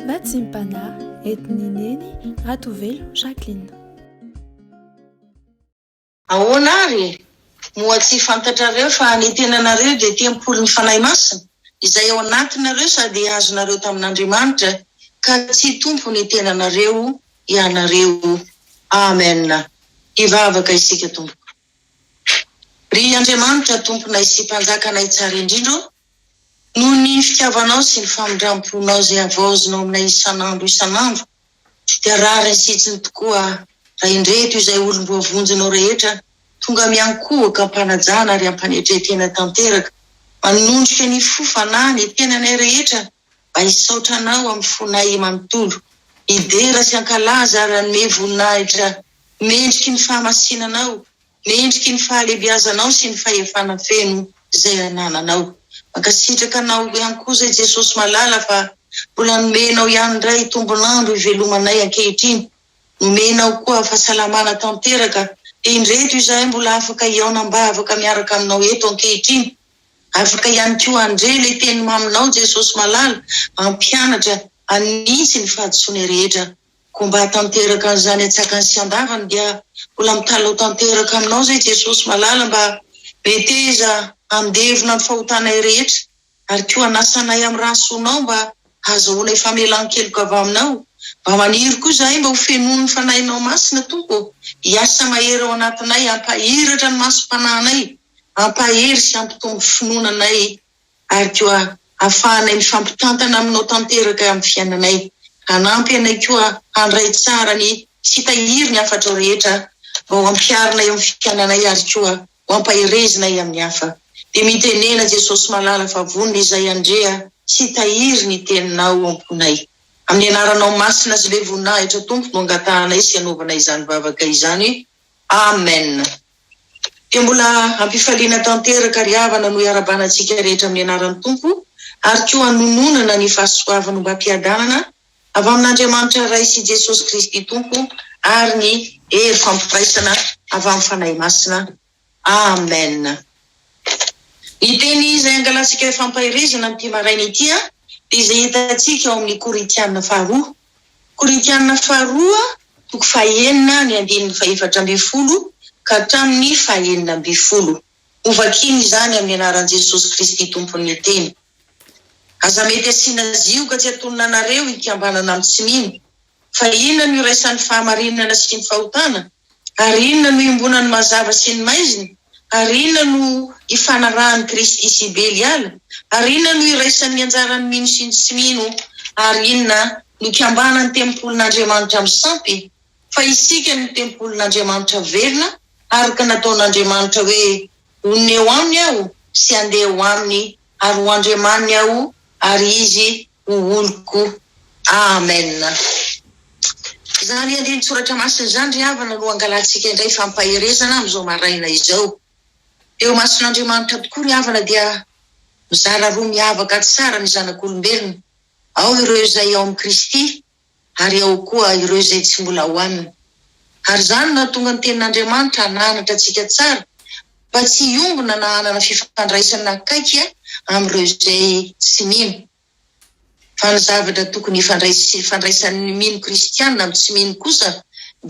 Natsimpana entin'i Neny Ratovelo Jacqueline. Ahoana ary? Moa tsy fantatrareo fa ny tenanareo dia tempolin'ny Fanahy Masina, izay ao anatinareo sady azonareo tamin'Andriamanitra, ka tsy tompon'ny tenanareo ianareo? Amen! Hivavaka isika, Tompoko. Ry Andriamanitra, Tomponay sy Mpanjakanay tsara indrindra ô, Noho ny fitiavanao sy ny famindram-ponao izay havaozinao aminay isan'andro isan'andro, dia rariny sy hitsiny tokoa raha indreto izay olom-boavonjinao rehetra tonga miankohoka am-panajana ary am-panetren-tena tanteraka, manondrika ny fo, fanahy, ny tenanay rehetra mba hisaotra Anao amin'ny fonay manontolo, hidera sy hankalaza ary hanome voninahitra mendriky ny fahamasinanao. Ny endriky ny fahalebiazanao sy ny fahefana feno izay anananao. Mankasitraka anao ihany koa izay Jesosy malala fa mbola nomenao ihany indray tombon'andro ivelomanay ankehitriny. Nomenao koa fahasalamana tanteraka dia indreto izahay mbola afaka hihaona am-bavaka miaraka aminao eto ankehitriny. Afaka ihany koa handre ilay teny maminao Jesosy malala hampianatra hanintsy ny fahadisoanay rehetra. Koa mba hahatanteraka an'izany an-tsakany sy an-davany dia mbola mitalao tanteraka aminao izay Jesosy malala mba meteza handevona ny fahotanay rehetra ary koa hanasa anay amin'ny rà soanao mba hahazahoanay famelan-keloka avy aminao mba maniry koa izahay mba ho fenoin'ny Fanahinao Masina Tompo ô hiasa mahery ao anatinay hampahiratra ny masom-panahinay hampahery sy hampitombo finoana anay ary koa hafahanay mifampitantana aminao tanteraka amin'ny fiainanay. Hanampy anay koa handray tsara ny tsy hitahiry ny hafatrao rehetra mba ho ampiharinay amin'ny fiainanay ary koa ho ampaherezinay amin'ny hafa. Dia mitenena Jesosy malala fa vonona izay handrea sy hitahiry ny teninao ao am-ponay. Amin'ny anaranao masina sy be voninahitra Tompo no angatahanay sy anaovanay izany vavaka izany. Amen. dia mbola hampifaliana tanteraka ry havana no iarabana antsika rehetra amin'ny anaran'ny Tompo ary koa hanononana ny fahasoavan'ombam-piadanana avy amin'Andriamanitra Ray sy Jesosy Kristy Tompo ary ny hery fampiraisana avy amin'ny Fanahy Masina. Amen. Ny teny izay hangalantsika fampaherezana amin'ity maraina ity dia izay hitantsika ao amin'ny Korintiana faharoa. Korintiana Faharoa, toko fahenina, ny andininy fahefatra ambin'ny folo ka hatramin'ny fahenina ambin'ny folo. Hovakina izany amin'ny anaran'i Jesosy Kristy Tompon'ny teny. Aza mety asiana zioga tsy atonona anareo hikambanana amin'ny tsy mino. Fa inona no iraisan'ny fahamarinana sy ny fahotana? Ary inona no iombonan'ny mazava sy ny maizina? Ary inona no ifanarahan'i Kristy sy Beliala? Ary inona no iraisan'ny anjaran'ny mino sy ny tsy mino? Ary inona no ikambanan'ny tempolin'Andriamanitra amin'ny sampy? Fa isika no tempolin'Andriamanitra velona, araka nataon'Andriamanitra hoe, Honina eo aminy aho sy handeha ho aminy, ary ho Andriamaniny aho, ary izy ho oloko. Amen. Izany andinin-tsoratra masina izany, ry havana, no angalantsika indray fampaherezana amin'izao maraina izao. Eo imason'Andriamanitra tokoa, ry havana, dia mizara roa miavaka tsara ny zanak'olombelona, ao ireo izay ao amin'i Kristy, ary ao koa ireo izay tsy mbola ao aminy. Ary izany no nahatonga ny Tenin'Andriamanitra hananatra antsika tsara, mba tsy hiombona na hanana fifandraisana akaiky amin'ireo izay tsy mino. Fa ny zavatra tokony hifandraisan'ny mino kristiana amin'ny tsy mino kosa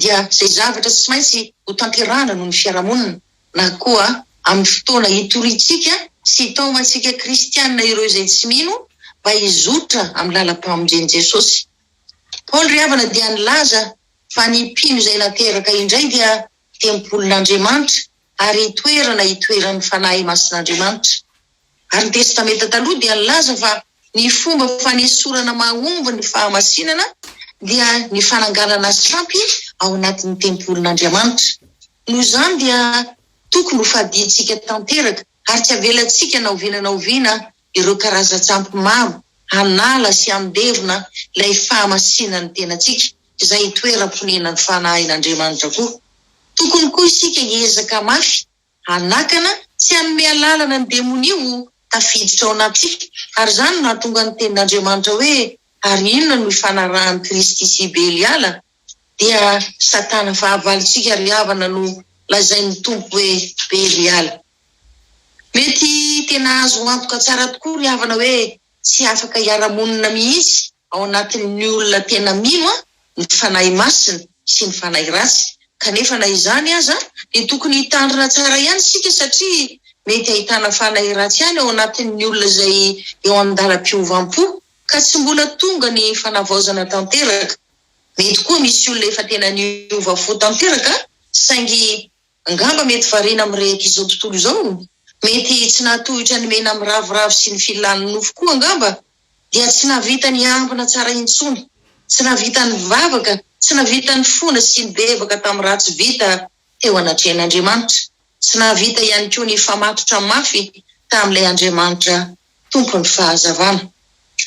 dia izay zavatra tsy maintsy hotanterahana noho ny fiarahamonina. na koa amin'ny fotoana hitoriantsika sy hitaomantsika kristiana ireo izay tsy mino mba hizotra amin'ny làlam-pamonjen'i Jesosy. Paoly ry havana dia nilaza fa ny mpino izay nateraka indray dia tempolin'Andriamanitra ary toerana itoeran'ny Fanahy Masin'Andriamanitra. Ary ny Testamenta Taloha dia nilaza fa ny fomba fanesorana mahomby ny fahamasinana dia ny fananganana sampy ao anatin'ny tempolin'Andriamanitra. Noho izany dia tokony hofadintsika tanteraka ary tsy havelantsika na oviana na oviana ireo karazan-tsampy maro hanala sy handevona ilay fahamasinan'ny tenantsika, izay itoeram-ponenan'ny Fanahin'Andriamanitra koa. Tokony koa isika hiezaka mafy. Hanakana tsy hanome alalana ny demonia ho tafiditra ao anatsika, ary izany no nahatonga ny tenin'Andriamanitra hoe, Ary inona no ifanarahan'i Kristy sy Beliala? Dia Satana fahavalontsika ry havana no lazain'ny Tompo hoe Beliala. Mety tena azo antoka tsara tokoa ry havana hoe tsy afaka hiara-monina mihitsy Ao anatin'ny olona tena mila ny Fanahy Masina sy ny fanahy ratsy, kanefa na izany aza dia tokony hitandrina tsara ihany isika satria mety ahitana fanahy ratsy ihany ao anatin'ny olona izay eo an-dalam-piovam-po ka tsy mbola tonga ny fanavaozana tanteraka. Mety koa misy olona efa tena niova fo tanteraka saingy. Angamba mety variana amin'irehety izao tontolo izao, mety tsy nahatohitra ny mena miravoravo sy ny filan'ny nofo koa angamba, dia tsy nahavita niambina tsara intsony, tsy nahavita nivavaka, tsy nahavita nifona sy nibebaka tamin'ny raha tsy vita teo anatrehan'Andriamanitra, tsy nahavita ihany koa nifamatotra mafy tamin'ilay Andriamanitra Tompon'ny fahazavana.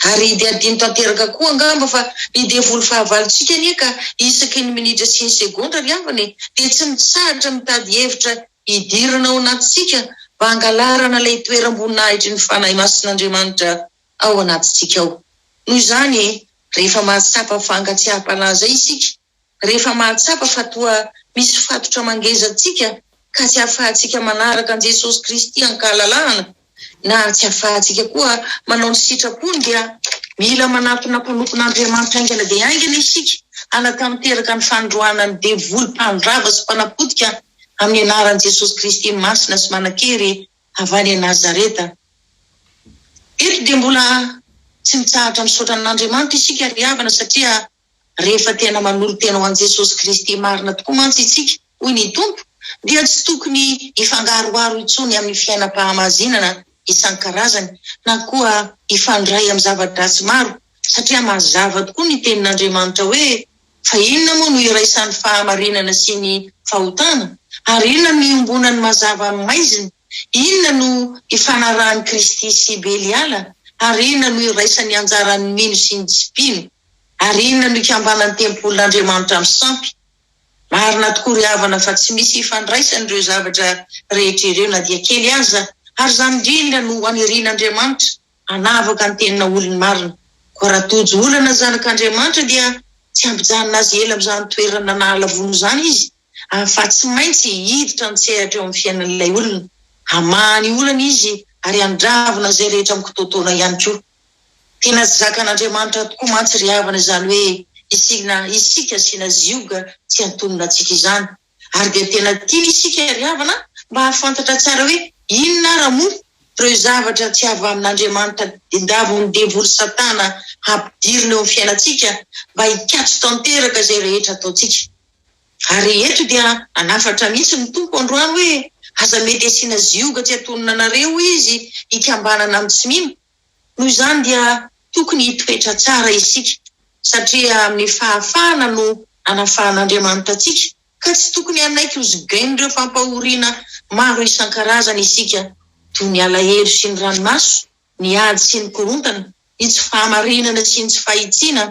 Ary i dia adino tanteraka koa angamba fa ny devoly fahavalontsika anie ka isaky ny minitra sy ny segondra ry havana e, dia tsy mitsahatra mitady hevitra hidirana ao anatintsika mba hangalarana ilay toeram-boninahitry ny Fanahy Masin'Andriamanitra ao anatintsika ao. Noho izany, rehefa mahatsapa fankatsiaham-panahy izay isika, rehefa mahatsapa fa toa misy fatotra mangeza antsika ka tsy ahafahantsika manaraka an'i Jesosy Kristy an-kahalalahana na tsy ahafahantsika koa manao ny sitrapony dia mila manatona mpanompon'Andriamanitra haingana dia haingana isika hanatanteraka ny fanindroana ny devoly mpandrava sy mpanapotika amin'ny anaran'i Jesosy Kristy masina sy manankery avy any Nazareta. Eto dia mbola tsy mitsahatra misaotra an'Andriamanitra isika ry havana satria Rehefa tena manolo-tena ho an'i Jesosy Kristy marina tokoa mantsy isika, hoy ny Tompo, dia tsy tokony hifangaroharo intsony amin'ny fiainam-pahamazinana isan-karazany na koa hifandray amin'ny zava-dratsy maro, satria mazava tokoa ny Tenin'Andriamanitra hoe, Fa inona moa no iraisan'ny fahamarinana sy ny fahotana? Ary inona no iombonan'ny mazava amin'ny maizina? Inona no ifanarahan'i Kristy sy Beliala? Ary inona no iraisan'ny anjaran'ny mino sy ny tsy mpino? Ary inona no ikambanan'ny tempolin'Andriamanitra amin'ny sampy? Marina tokoa ry havana fa tsy misy ifandraisany ireo zavatra rehetra ireo na dia kely aza, ary izany indrindra no hanirian'Andriamanitra hanavaka ny tena olony marina. Koa raha tojo olana zanak'Andriamanitra dia tsy hampijanona azy ela amin'izany toerana nahalavoana izany izy, fa tsy maintsy hiditra an-tsehatra eo amin'ny fiainan'ilay olona. Hamaha ny olana izy ary handravona izay rehetra mikitoatoana ihany koa. Tena zakan'Andriamanitra tokoa mantsy ry havana izany hoe isiana isika asiana zioga tsy antonona antsika izany. Ary dia tena tiany isika ry havana mba hahafantatra tsara hoe inona ara moa ireo zavatra tsy avy amin'Andriamanitra diandavin'ny devoly satana hampidirina eo amin'ny fiainantsika mba hikatso tanteraka izay rehetra ataontsika. Ary eto dia hanafatra mihitsy ny Tompo androany hoe, Aza mety asiana zioga tsy atonona anareo izy hikambanana amin'ny tsy mino. Noho izany dia tokony hitoetra tsara isika, satria amin'ny fahafahana no anafahan'Andriamanitra antsika, ka tsy tokony hanaiky hozigain'ireo fampahoriana maro isan-karazany isika, toy ny alahelo sy ny ranomaso. ny ady sy ny korontana, ny tsy fahamarinana sy ny tsy fahitsiana,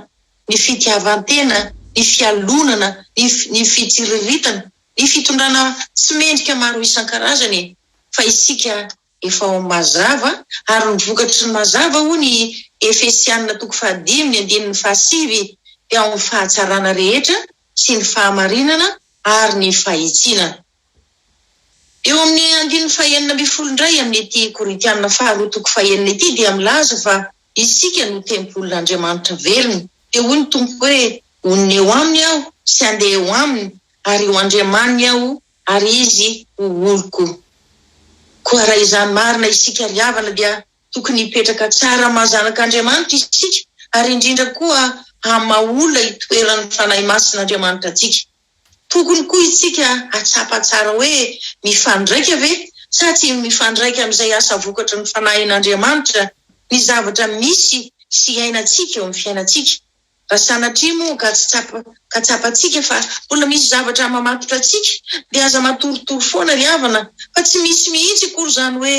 ny fitiavan-tena, ny fialonana, ny ny fitsiriritana, ny fitondrana tsy mendrika maro isan-karazany fa isika efa ao amin'ny mazava ary ny vokatry ny mazava hoy ny Efesianina toko fahadimy ny andininy fahasivy dia ao amin'ny fahatsarana rehetra sy ny fahamarinana ary ny fahitsiana. Eo amin'ny andininy fahenina ambin'ny folo indray amin'ny ity Korintiana faharoa toko fahenina ity dia milaza fa isika no tempolin'Andriamanitra velona. Dia hoy ny Tompo hoe, Honina eo aminy aho sy handeha eo aminy ary ho Andriamaniny aho ary izy ho oloko. Koa raha izany marina isika ry havana dia tokony hipetraka tsara maha zanak'Andriamanitra isika ary indrindra koa haha maha olona itoeran'ny Fanahy Masin'Andriamanitra antsika. Tokony koa isika hahatsapa tsara hoe mifandraika ve sa tsy mifandraika amin'izay asa vokatry ny Fanahin'Andriamanitra ny zavatra misy sy iainantsika eo amin'ny fiainantsika. Raha sanatria moa ka tsy tsapa ka tsapantsika fa mbola misy zavatra mamatotra antsika dia aza matoritory foana ry havana fa tsy misy mihitsy akory izany hoe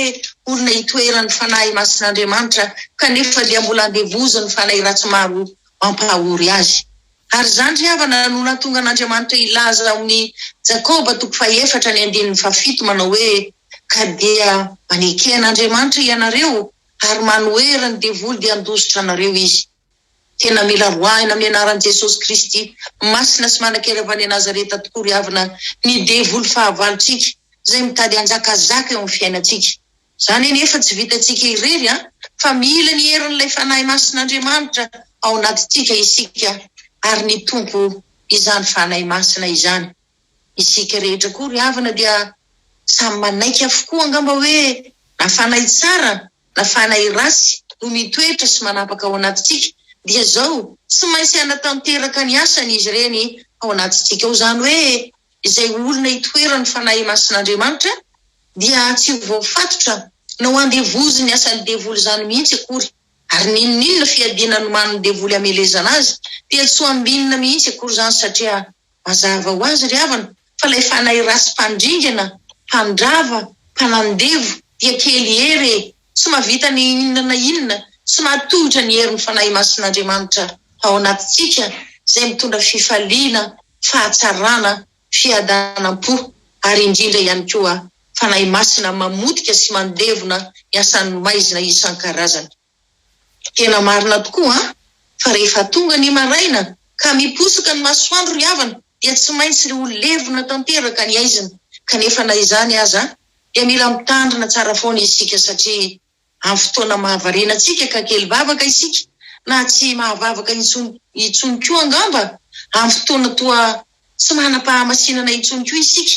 olona itoeran'ny Fanahy Masin'Andriamanitra kanefa dia mbola andevozin'ny fanahy ratsy maro mampahory azy. Ary izany ry havana no nahatonga an'Andriamanitra hilaza ao amin'ny Jakoba toko fahefatra ny andininy fahafito manao hoe, Ka dia maneke an'Andriamanitra ianareo ary manohera ny devoly dia handositra anareo izy. Tena mila roahina amin'ny anaran'i Jesosy Kristy masina sy manan-kery avy any Nazareta tokoa ry havana ny devoly fahavalontsika izay mitady hanjakazaka eo amin'ny fiainantsika. Izany anefa tsy vitantsika irery fa mila ny herin'ilay Fanahy Masin'Andriamanitra ao anatintsika isika ary ny Tompo izany Fanahy Masina izany. Isika rehetra koa ry havana dia samy manaiky avokoa angamba hoe na fanahy tsara na fanahy ratsy no mitoetra sy manapaka ao anatintsika dia izao tsy maintsy hanatanteraka ny asany izy ireny ao anatintsika ao izany hoe izay olona itoeran'ny Fanahy Masin'Andriamanitra dia tsy ho voafatotra na ho andevozin'ny asan'ny devoly izany mihitsy akory, ary n'inon'inona fiadiana nomanin'ny devoly hamelezana azy dia tsy ho ambinina mihitsy akory izany, satria mazava ho azy, ry havana, fa ilay fanahy ratsy mpandringana, mpandrava, mpanandevo, dia kely hery e! tsy mahavita na inona na inona, tsy mahatohitra ny herin'ny Fanahy Masin'Andriamanitra ao anatintsika, izay mitondra fifaliana, fahatsarana, fiadanam-po, ary indrindra ihany koa Fanahy Masina mamotika sy mandevona ny asan'ny maizina isan-karazany. Tena marina tokoa an! Fa rehefa tonga ny maraina ka miposoka ny masoandro ry havana dia tsy maintsy ho levona tanteraka ny aizina, kanefa na izany aza dia mila mitandrina tsara foana isika satria Amin'ny fotoana mahavariana antsika ka kely vavaka isika, na tsy mahavavaka intsony intsony koa angamba, amin'ny fotoana toa tsy manam-pahamasinana intsony koa isika,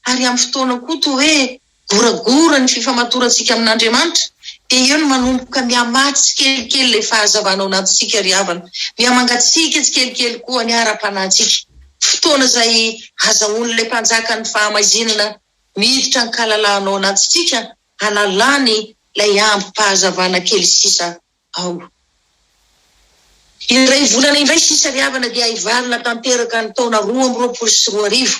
ary amin'ny fotoana koa toa hoe goragora ny fifamatorantsika amin'Andriamanitra, dia eo no manomboka mihamà tsikelikely ilay fahazavana ao anatintsika ry havana. Mihamangatsiaka tsikelikely koa ny ara-panahintsika, fotoana izay azahoan'ilay Mpanjakan'ny fahamaizinana miditra an-kalalahana ao anatintsika, hanalany ilay ambim-pahazavana kely sisa ao. Iray volana indray sisa ry havana dia hivalona tanteraka ny taona roa amby roapolo sy roa arivo,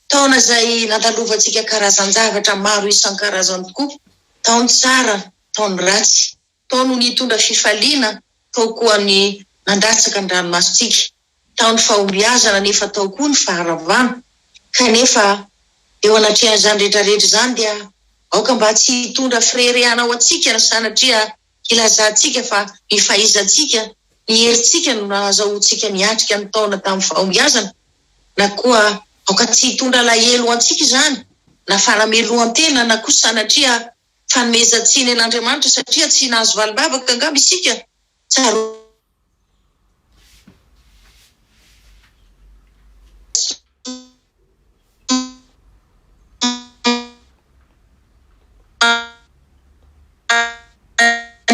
taona izay nandalovantsika karazan-javatra maro isan-karazany tokoa, taon-tsara, taon-dratsy. Tao no nitondra fifaliana, tao koa ny nandatsaka ny ranomasontsika. Tao ny fahombiazana nefa tao koa ny faharavana. Kanefa eo anatrehan'izany rehetrarehetra izany dia aoka mba tsy hitondra fireherehana ho antsika ny sanatria hilazantsika fa ny fahaizantsika, ny herintsika no nahazahoantsika niatrika ny taona tamin'ny fahombiazana. Na koa aoka tsy hitondra alahelo ho antsika izany, na fanamelohan-tena, na koa sanatria fanomezan-tsiny an'Andriamanitra satria tsy nahazo valim-bavaka angamba isika? Tsaroana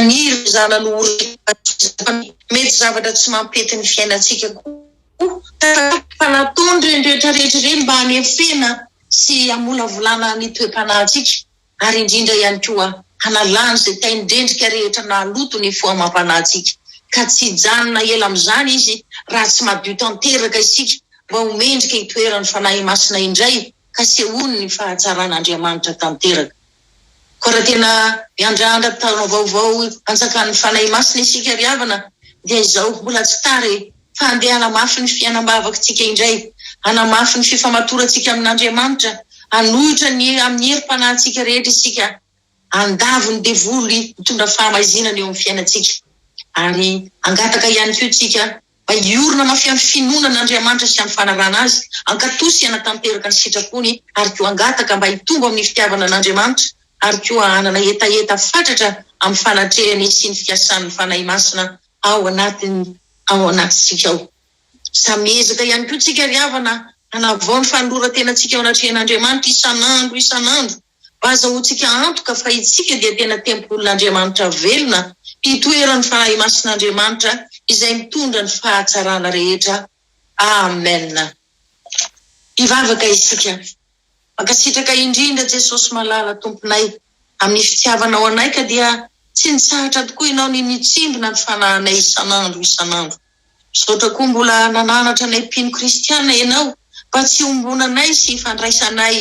ireo zanany ho raiamandreny fa mety zavatra tsy mampety ny fiainantsika koa tahaka nataon'ireny rehetra rehetra ireny mba hanefena sy hamolavolana ny toe-panahintsika. ary indrindra ihany koa hanalany izay tain-drendrika rehetra nahaloto ny fo amam-panahintsika, ka tsy hijanona ela amin'izany Izy raha tsy madio tanteraka isika mba ho mendrika hitoeran'ny Fanahy Masina indray ka sehoany ny fahatsaran'Andriamanitra tanteraka. Koa raha tena miandrandra taona vaovao antsakan'ny Fanahy Masina isika ry havana dia izao, mbola tsy tara e! fa handeha hanamafy ny fiainam-bavaktsika indray, hanamafy ny fifamatorantsika amin' Andriamanitra, hanohitra ny amin'ny herim-panahintsika rehetra isika, handavo ny devoly mitondra fahamaizinana eo amin'ny fiainantsika, ary hangataka ihany koa isika mba hiorina mafy amin'ny finoana an' Andriamanitra sy amin'ny fanarahana Azy, hankatò sy hanatanteraka ny sitrapony, ary koa hangataka mba hitombo amin'ny fitiavana an' Andriamanitra, ary koa hanana hetaheta fatratra amin'ny fanatrehany sy ny fiasan'ny Fanahy Masina ao anatiny ao anatintsika ao. Samy miezaka ihany koa tsika ry havana hanavao ny fanolorantenantsika eo anatrehan'Andriamanitra isan'andro isan'andro mba hazahoantsika antoka fa itsika dia tena tempolin'Andriamanitra velona hitoeran'ny Fanahy Masin'Andriamanitra izay mitondra ny fahatsarana rehetra. Amen. Hivavaka isika. Mankasitraka indrindra Jesosy malala Tomponay amin'ny fitiavanao anay ka dia tsy nitsahatra tokoa ianao ny nitsimbina ny fanahinay isan'andro isan'andro. Misaotra koa mbola nananatra anay mpino kristiana ianao mba tsy hombonanay sy hifandraisanay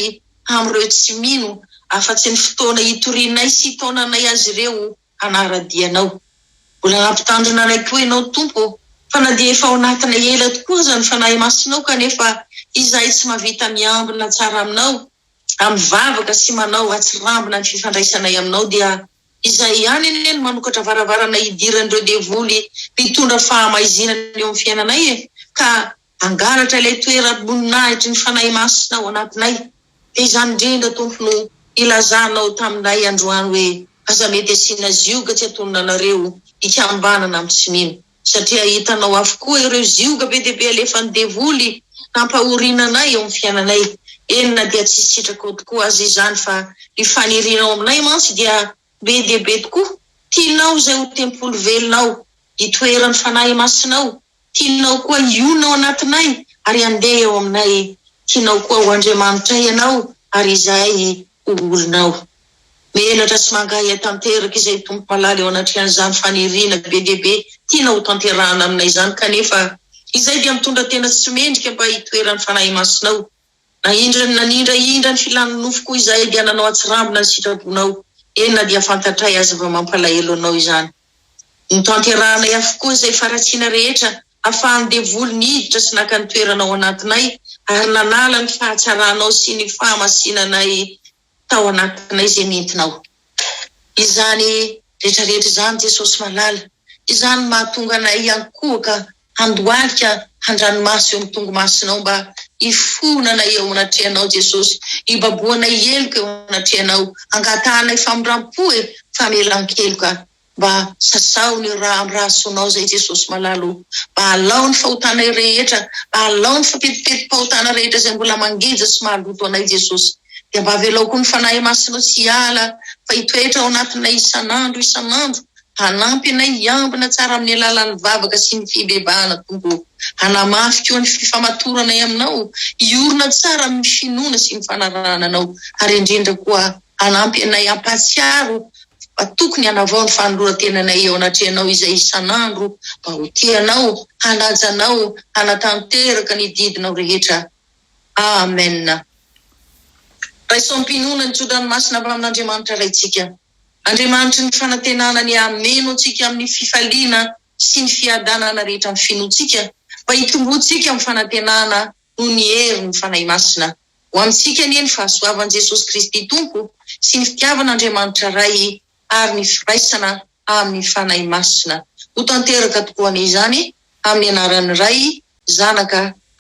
amin'ireo tsy mino afa-tsy ny fotoana hitorianay sy hitaonanay azy ireo hanara-dia anao. Mbola hampitandrina anay koa ianao, Tompo ô, fa na dia efa ao anatinay ela tokoa aza ny Fanahy Masinao, kanefa izahay tsy mahavita miambina tsara Aminao, raha mivavaka sy manao atsirambina ny fifandraisanay Aminao, dia Izay ihany anie no manokatra varavarana hidiran'ireo devoly mpitondra fahamaizinana eo amin'ny fiainanay e, ka Hangalatra ilay toeram-boninahitry ny Fanahy Masina ao anatinay. Dia izany indrindra, Tompo, no ilazanao taminay androany hoe, Aza mety asiana zioga tsy atonona anareo ikambanana amin'ny tsy mino, satria hitanao avokoa ireo zioga be dia be alefan'ny devoly hampahorina anay eo amin'ny fiainanay. Eny, na dia tsy sitrakao tokoa aza izany, fa ny fanirianao aminay mantsy dia be dia be tokoa. Tianao izay ho tempoly velona ao, itoeran'ny Fanahy Masinao. Tianao koa hionona ao anatinay, ary handeha eo aminay. Tianao koa ho Andriamanitray ianao, ary izahay ho olonao. Menatra sy mangahiahy tanteraka izahay, Tompo malala, eo anatrehan'izany faniriana be dia be tianao hotanterahana aminay izany, kanefa izahay dia mitondra tena tsy mendrika mba hitoeran'ny Fanahy Masinao. Na indry ny nanindra indra ny filan'ny nofoko izahay dia nanao an-tsirambina ny sitrabonao, eny na dia fantatray aza fa mampalahelo anao izany. Notanterahanay avokoa izay faharatsiana rehetra hafahan'ny devoly niditra sy naka ny toerana ao anatinay ary nanala ny fahatsaranao sy ny fahamasinanay tao anatinay izay nentinao. Izany rehetrarehetra izany, Jesosy malala, izany mahatonga anay hiankohoka handohalika handranomaso eo amin'ny tongomasonao mba hifohonanay eo anatrehanao Jesosy, hibabohanay heloka eo anatrehanao, hangatahanay famindrampo e, famelan-keloka. Mba sasaho ny ra am ra soanao zay Jesosy malala o! Mba alao ny fahotanay rehetra, mba alao ny fapetipeti-pahotana rehetra zay mbola mangeja sy mahaloto anay Jesosy. Dia mba avelao koa ny Fanahy Masinao tsy hiala fa hitoetra ao anatinay isan'andro isan'andro hanampy anay hiambina tsara amin'ny alalan'ny vavaka sy ny fibebahana Tompo o! Hanamafy koa ny fifamatoranay aminao hiorina tsara amin'ny finoana sy ny fanarahana anao ary indrindra koa hanampy anay hampahatsiaro fa tokony hanavao ny fanoloran-tenanay eo anatrehanao izay isan'andro mba ho tia anao, hanaja anao, hanatanteraka ny didinao rehetra. Amen. Raiso am-pinoana ny tso-dranomasina avy amin'Andriamanitra Raintsika. Andriamanitry ny fanantenana ny hameno antsika amin'ny fifaliana sy ny fiadanana rehetra amin'ny finoantsika, mba hitomboantsika amin'ny fanantenana noho ny herin'ny Fanahy Masina. Ho amintsika anie ny fahasoavan'i Jesosy Kristy Tompo sy ny fitiavan'Andriamanitra Ray ary ny firaisana amin'ny Fanahy Masina ho tanteraka tokoa anie izany, amin'ny anaran'ny Ray, Zanaka